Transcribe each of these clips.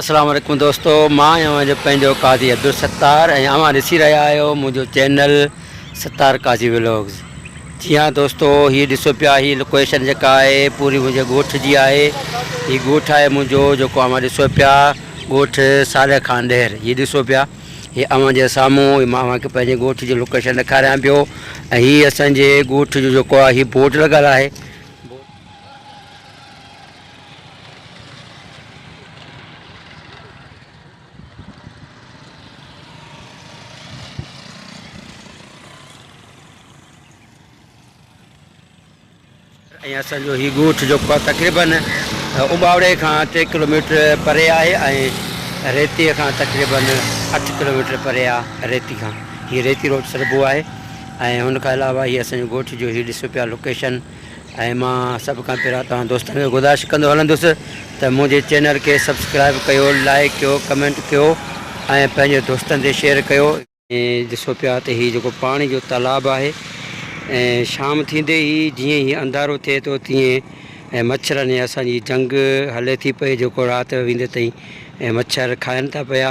اسلام عليڪم دوستو مان آهيان اوهان جو پنهنجو قاضي عبدالستار ۽ اوهان ڏسي رهيا آهيو منهنجو چينل ستار قاضي ولاگز جي ها دوستو هي ڏسو پيا هي لوڪيشن جيڪا آهي پوري منهنجي ڳوٺ جي آهي هي ڳوٺ آهي منهنجو جيڪو اوهان ڏسو پيا ڳوٺ صالح خان ڏهر هي ڏسو پيا هي اوهان جي سامهون هي مان اوهان کي پنهنجي ڳوٺ جي لوڪيشن ڏيکاريان پيو ۽ هي اسان جي ڳوٺ جو جيڪو آهي هي بورڊ لڳل آهي اسانجو هي ڳوٺ جيڪو تقريبن امباوڙي کان ٽي ڪلوميٽر پري آهي ۽ ريتي کان تقريبن اٺ ڪلوميٽر پري آهي ريتي کان هي ريتي روڊ سڏبو آهي ۽ هن کان علاوه هي اسانجو ڳوٺ جو هي ڏسو پيا لوڪيشن ۽ مان سڀ کان پهريان توهان دوستن کي گذارش ڪندو هلندس ته منهنجي چينل کي سبسڪرائيب ڪيو لائيڪ ڪيو ڪمينٽ ڪيو ۽ پنهنجي دوستن تي شيئر ڪيو. ڏسو پيا ته هي جيڪو پاڻي جو تالاب آهي ۽ شام ٿيندي ئي جيئن هي انڌارو ٿئي ٿو تيئن مڇرن ۽ اسان جي جنگ هلي ٿي پئي جيڪو رات ويندي تائين مڇر کائن ٿا پيا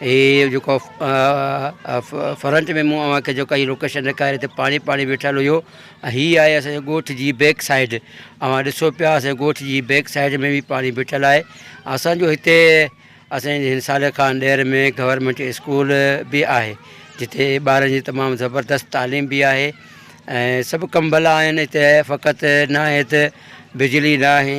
هي جيڪو فرنٽ ۾ مون اوهان کي جيڪا هي لوڪيشن ڏيکاري هتي پاڻي پاڻي ويٺل هيو ۽ هي آهي اسانجي ڳوٺ جي بيڪ سائيڊ اوهان ڏسو پيا اسانجي ڳوٺ جي بيڪ سائيڊ ۾ به پاڻي بيٺل آهي اسانجو هتي اسانجي هن سال خان ڏير ۾ گورنمنٽ اسڪول به آهي جتي ٻارن جي تمام زبردست تعليم به آهي ۽ سڀ ڪم ڀلا آهن هتي فقط ناهي ته بجلي ناهي